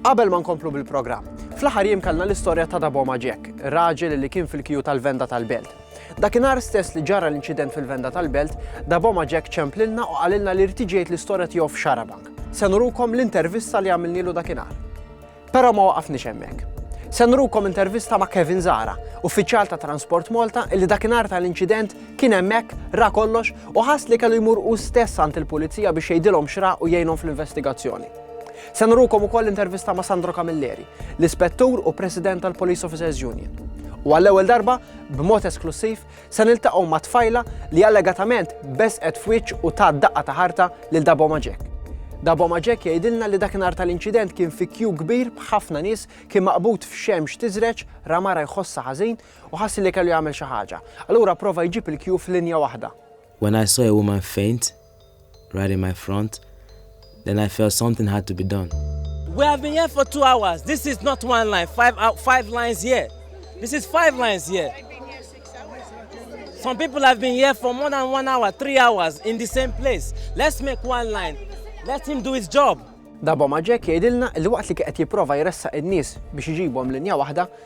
Qabel ma nkomplu bil-programm, fl-aħħar jiem kellna l-istorja ta' Daboma Jack, raġel li kien fil-kiju tal-venda tal-belt. Dakinhar stess li ġara l-inċident fil-venda tal-belt, Daboma Jack ċemplilna u qalilna li rtiġejt l-istorja tiegħu f'Xarabank. Se nurukom l-intervista li għamilnilu dakinhar. Però ma waqafni hemmhekk. Se nurukom intervista ma' Kevin Zara, uffiċjal ta' Transport Malta, illi dakinhar tal-inċident Kien hemmhekk, ra kollox u ħass li kellu jmur hu stess għand il-Pulizija biex jgħidilhom x'ra u jgħinhom fl-investigazzjoni. Se nurukom ukoll intervista ma' Sandro Camilleri, l-Ispettur u President tal-Police Officers Union. U għall-ewwel darba, b'mod esklussiv, se niltaqgħu ma' tfajla li allegatament beżqet f'wiċċ u tat daqqa ta' ħarta lil Daboma Jack. Daboma Jack jgħidilna li dakinhar tal-inċident kien fi kju kbir b'ħafna nies, kien maqbud f'xemx tiżreġ, ra mara jħossha ħażin u ħass li kellu jagħmel xi ħaġa. Allura pprova jġib il-kju f'linja waħda. When I saw a woman faint right in my front, then I felt something had to be done. We have been here for two hours. This is not one line. Five, uh, five lines here. This is five lines here. Some people have been here for more than one hour, three hours in the same place. Let's make one line. Let him do his job. Dabo Maġek jgħidilna li waqt li qed jipprova jressaq in-nies biex iġibhom linja waħda,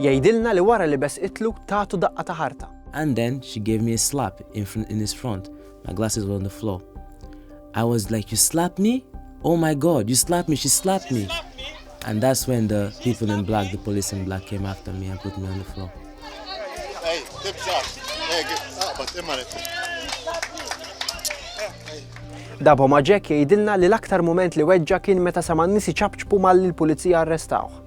Jgħidilna li wara li besqitlu tagħtu daqqa ta' ħarta. And then she gave me a slap in in his front, my glasses were on the floor. I was like you slapped me? Oh my god, you slapped me, she slapped me. And that's when the people in black, the police in black came after me and put me on the floor. Hey, Dabo ma' Jack jgħidilna li l-aktar mument li weġġa kien meta sama n-nies iċapċpu malli l-pulizija arrestawh.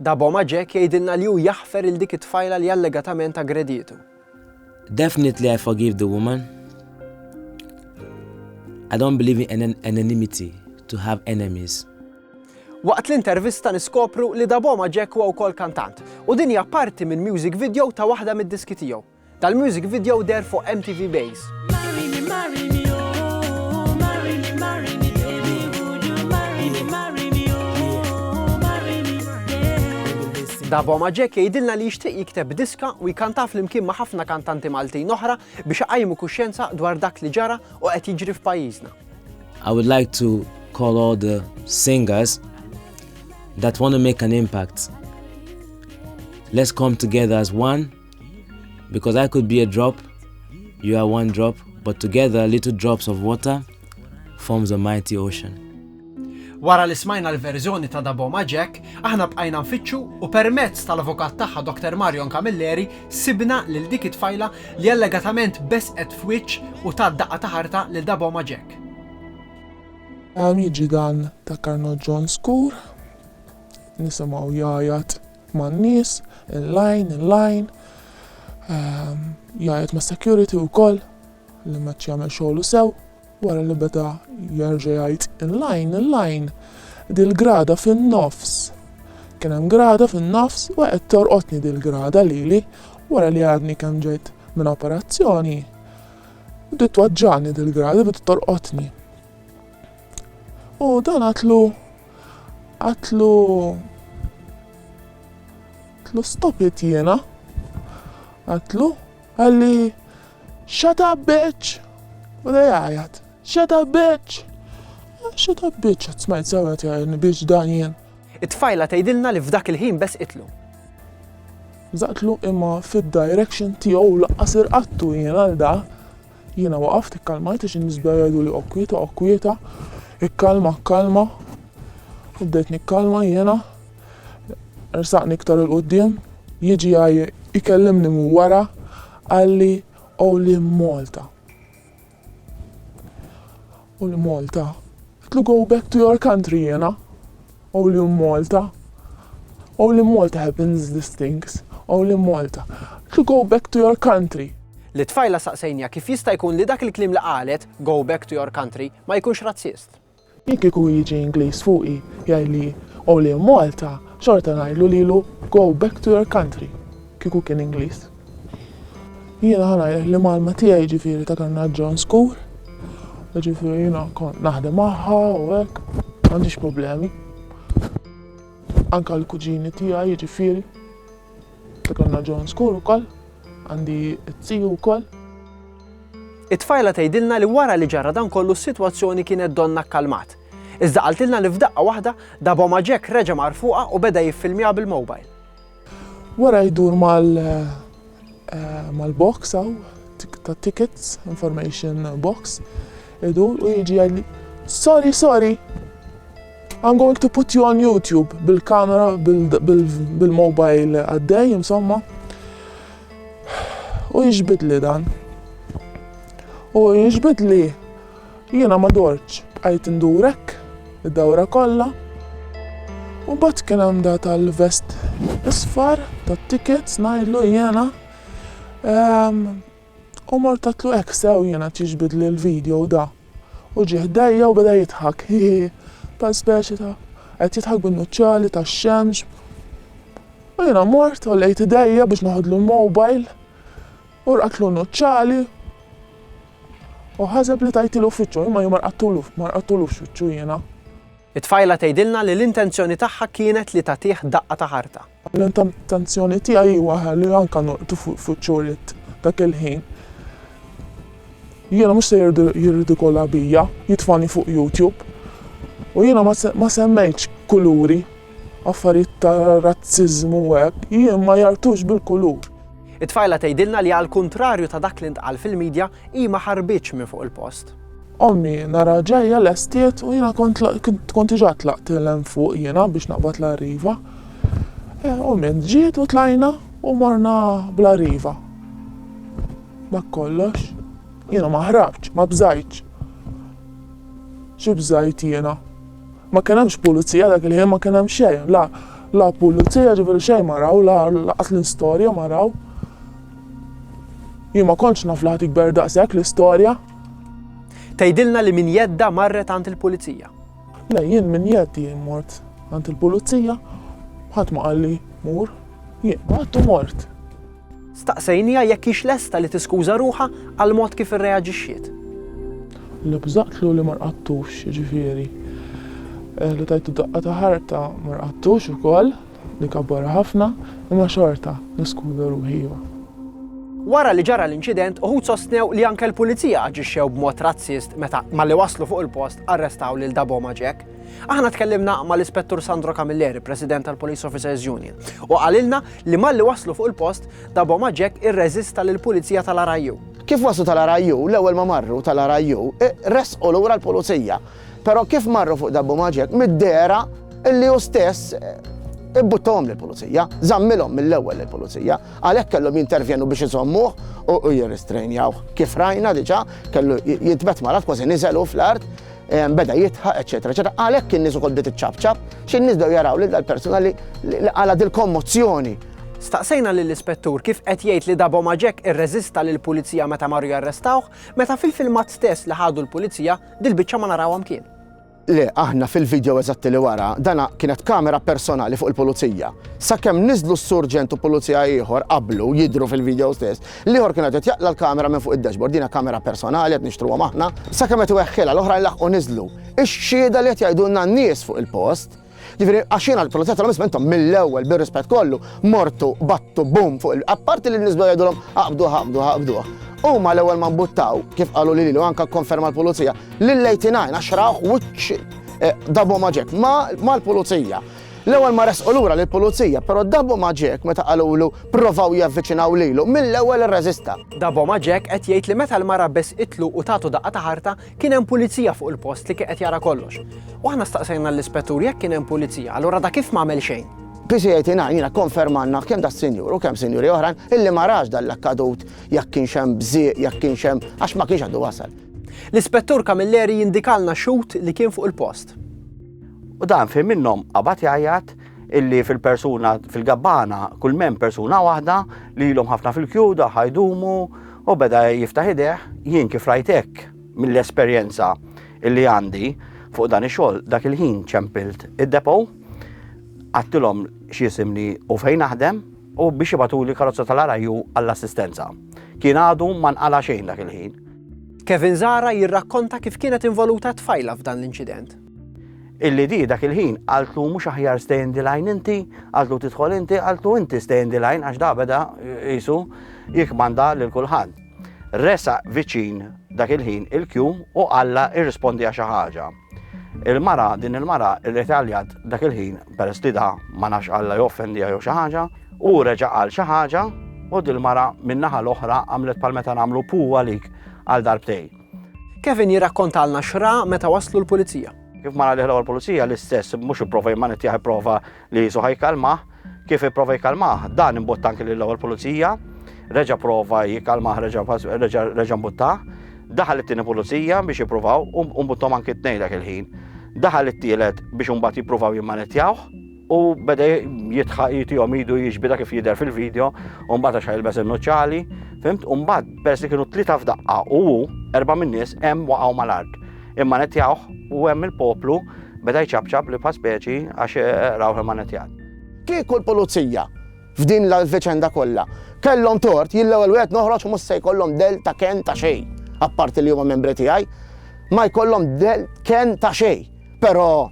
Daboma Jack jgħidilna li hu jaħfer lil dik it-tfajla li allegatament aggredietu. Definitely I forgive the woman. I don't believe in an anonymity to have enemies. Waqt l-intervista niskopru li Daboma Jack huwa wkoll kantant u din hija parti minn music video ta' waħda mid-diski tiegħu. Tal-music video deher fuq MTV Base. Davo Maġek jgħidilna li jixtieq jikteb diska u jkantaf flimkien ma' ħafna kantanti Maltin oħra biex iqajmu kuxjenza dwar dak li ġara u qed jiġri f'pajjiżna. I would like to call all the singers that want to make an impact. Let's come together as one. Because I could be a drop, you are one drop, but together little drops of water forms a mighty ocean. Wara li smajna l-verżjoni ta' Daboma Jack, aħna bqajna nfittxu u permezz tal-avukat tagħha Dr. Marion Camilleri sibna lil dik it-tfajla li allegatament besqet f'wiċċ u ta' daqqa ta' ħarta lil Daboma Jack. Hawn jiġi dan ta' Karno John Skur, nisimgħu jgħajjat man-nies, il-lajn, il-lajn, jgħajjat mas-security wkoll li m'għadx jagħmel xogħlu sew, wara li beda jerġa' jgħid il-lajn, il-lajn, dil-grada fin-nofs, kien hemm grada fin-nofs u qed torqodni dil-grada lili, wara li għadni kemm ġejt minn operazzjoni, bdiet twaġġagħni dil-grada, bdiet torqodni. U dan għadtlu. Għatlu għatlu stop it jiena. Għatlu għalli shut up bitch! U da jgħajat, shut up bitch! Shut up bitch, għat smajt sewet jgħajni bitch dan jien. It-tfajla tgħidilna li f'dak il-ħin bes itlu. Zaqtlu imma fid-direction tiegħu laqqas irqattu jien għal da. Jiena waqaft, ikkalmajt għax in-nies bdew jgħiduli oqgħod kwieta, oqgħod kwieta, ikkalma, kkalma. U bdejt nikkalma jiena. Ersaqni iktar 'il quddiem, jiġi jkellimni minn wara, qalli, Qoli Malta. U l Malta? Qtlu go back to your country jiena. Only in Malta. Only in Malta happens this things. Only in Malta. Qtlu go back to your country. Lit-tfajla saqsejniha kif jista' jkun li dak il-kliem li qalet, go back to your country, ma jkunx razzist. Jekk kieku jiġi Ingliż fuqi jgħidli only in Malta, xorta ngħidlu lilu go back to your country, kieku kien Ingliż. Jiena ħa ngħidlek li mgħallma tiegħi jiġifieri ta' kellna John School, jiġifieri jiena kont naħdem magħha u hekk, m'għandix problemi. Anke l-kuġini tiegħi jiġifieri ta' kellna John School ukoll, għandi t-tiju wkoll. It-tfajla tgħidilna li wara li ġara dan kollu s-sitwazzjoni kienet donnha kkalmat. Iżda qaltilna li f'daqqa waħda, dabomha Jack reġa' mar fuqha u beda jiffilmjaha bil-mobile. Wara jdur mal mal box hawn ta' tickets, information box, idur u jiġi jgħidli Sorry, sorry! I'm going to put you on YouTube bil-kamera bil-mobile għaddej, insomma. U jiġbidli dan. U jiġbidli Jiena ma dortx, bqajt indur hekk id-dawra kollha. U mbagħad kien hemm da tal-vest isfar tat-tickets ngħidlu jiena ehm, u mort għedtlu hekk sew jiena qed jiġbidli l-video da. U ġie ħdejja u beda jidħak hi hi hi bħal speċi ta' qed jidħak bin-nuċċali tax-xemx. U jiena mort għollejt idejja biex neħodlu l-mobile u rqadtlu n-nuċċali. Hu ħaseb li tajtilu f'wiċċu, imma jien ma rqadtulux, ma rqadtulux f'wiċċu jiena. It-tfajla tgħidilna li l-intenzjoni tagħha kienet li tagħtih daqqa ta' ħarta. L-intenzjoni tiegħi hi waħda li anke norqdu f'wiċċu ridt dak il-ħin. Jiena mhux se jirridikola bija, jitfagħni fuq YouTube. U jiena ma semmejtx kuluri, affarijiet ta' razziżmu u hekk, jien ma jagħrtux bil-kulur. It-tfajla tgħidilna li għall-kuntrarju ta' dak li ntqal fil-midja, hi ma ħarbitx minn fuq il-post. Ommi nara ġejja lestiet u jiena kont kont diġà tlaqt 'l hemm fuq jiena biex naqbad l-arriva. Ommi ġiet u tlajna u morna bl-arriva. Dak kollox. Jiena ma ħrabtx, ma bżajtx. Xi bżajt jiena? Ma kien hemmx pulizija dak il-ħin ma kien hemm xejn la la pulizija ġifieri xejn ma raw la lanqas l-istorja ma raw. Jien ma kontx naf li ħadd jikber daqshekk l-istorja. Tgħidilna li minn jeddha marret għand il-pulizija. Le jien minn jeddi mort għand il-pulizija ħadd ma qalli mur. Jien għadt u mort. Staqsejniha jekk hix lesta li tiskuża ruħha għall-mod kif irreaġixxiet. Li bżaqtlu li ma rqadtux, jiġifieri, li tajtu daqqa ta' ħarta ma rqadtux ukoll, li kabbarha ħafna, imma xorta niskuża ruħi iva. Wara li ġara l-inċident, uħud sostnew li anke l-Pulizija aġixxew b'mod razzist meta, malli waslu fuq il-post, arrestaw lil Daboma Jack. Aħna tkellimna mal-Ispettur Sandro Camilleri, President tal-Police Officers Union, u qalilna li malli waslu fuq il-post, Daboma Jack irreżista lill-Pulizija tal-RIU. Kif waslu tal-RIU, l-ewwel ma marru tal-RIU, resqu lura l-Pulizija. Però kif marru fuq Daboma Jack, mid-dehra illi hu stess ibbuttahom lill-Pulizija, żammilhom mill-ewwel lill-Pulizija, għalhekk kellhom jintervjenu biex iżommuh u jirristrejnjawh. Kif rajna diġà, kellu jitbet malgħat kważi niżel hu fl-art, beda jidħaq, eċċetera, eċċetera. Għalhekk in-nies ukoll bdiet iċċapċap, xi nies bdew jaraw lil dal-persuna li qala dil-kommozzjoni. Staqsejna lill-Ispettur kif qed jgħid li Dabo Maġek irreżista lill-Pulizija meta marru jarrestawh, meta fil-filmat stess li ħadu l-Pulizija dil-biċċa ma narawha mkien. Le, aħna fil-video eżatti li wara, dana kienet kamera personali fuq il-pulizija. Sakemm niżlu s-surġent u pulizija ieħor qablu jidru fil-video stess, L-ieħor kien qed jaqla' l-kamera minn fuq id-dashboard, din hija kamera personali qed nixtruhom aħna. Sakemm qed iweħħilha, l-oħrajn laħqu niżlu. Ix-xhieda li qed jgħidulna n-nies fuq il-post, jiġifieri għax jiena l-Pulizija għedtilhom isma' intom mill-ewwel bir-rispett kollu mortu battu boom fuq il-, apparti li n-nies bdew jgħidulhom aqbduh aqbduh aqbduh, huma l-ewwel ma mbuttaw, kif qalu lili u anke kkonferma l-Pulizija, lill-89 għax raw wiċċ Daboma Jack mal-Pulizija. L-ewwel ma resqu lura lill-pulizija, però Daboma Jack meta qalulu pprovaw javviċinaw lilu, mill-ewwel irreżista. Daboma Jack qed jgħid li meta l-mara besqitlu u tatu daqqa ta' ħarta, kien hemm pulizija fuq il-post li kien qed jara kollox. U aħna staqsejna lill-ispettur jekk kien hemm pulizija, allura da kif m'għamel xejn? PCA-29 kkonfermalna kemm das-sinjur u kemm sinjuri oħrajn illi ma rax dan l-akkadut, jekk kienx hemm bżieq, jekk kienx hemm, għax ma kienx għadu wasal. L-Ispettur Camilleri jindikalna xhud li kien fuq il-post. U dan fejn minnhom qabad jgħajjat illi fil-persuna fil-gabbana kull men persuna waħda li ilhom ħafna fil-kjuda ħajdumu u beda jiftaħ ideħ jien kif rajtek mill-esperjenza illi għandi fuq dan ix-xogħol dak il-ħin ċempilt id-depo għattilhom x'jisimni u fejn naħdem u biex ibatuli karozza tal-araju għall-assistenza. Kien għadu ma nqala xejn dak il-ħin. Kevin Zara jirrakkonta kif kienet involuta tfajla f'dan l-inċident. Illi di dak il-ħin għaltlu mhux aħjar stay in the line inti, għaltlu tidħol inti, għaltlu inti stay in the line għax dabeda jisu jikmanda lil kulħadd. Resa viċin dak il-ħin il-kju u għalla irrispondi għaxa ħaġa. Il-mara, din il-mara, il-retaljat dak il-ħin, per stida ma nafx għalla joffendi għajo xaħġa, u reġa għal xaħġa, u dil-mara minnaħa l-oħra għamlet pal-meta namlu puwa lik għal darbtej. Kevin jirrakkontalna x'ra meta waslu l-pulizija. Kif mara liħla l-pulizija l-istess mhux ipprova jmanittjaħ ipprova li jisu ħajkalmah, kif ipprova jkalmah, dan imbotta anki lill ewwel pulizija, reġa' prova jkalmah reġa' mbuttah, daħal it-tieni pulizija biex jippruvaw u mbuttom anki t-tnejn dak il-ħin. Daħal it-tielet biex imbagħad jippruvaw jimmanittjawh. U beda jitħaq jitihom idu jiġbida kif jidher fil-video, u mbagħad għax jilbes in-nuċċali, fimt, u mbagħad peress li kienu tlieta f'daqqa u hu erba' min-nies hemm waqgħu mal-art. Imma netjawh u hemm il-poplu beda jċabċab li bħal speċi għax eh, rawh imma netjat. Kieku l-pulizija f'din l-veċenda kollha kellhom tort jillew il wieħed noħroġ mhux se jkollhom del ta' ken ta' xejn, apparti li huma membri tiegħi, ma jkollhom del ken ta' xejn. Però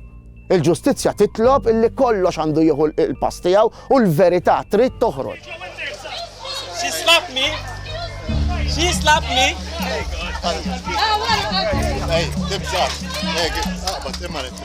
il-ġustizzja titlob illi kollox għandu jieħu l-pass tiegħu u l-verità trid toħroġ. She slapped me. She slapped me. Hey, Hey, tibża. Hey, għabba, timmaret.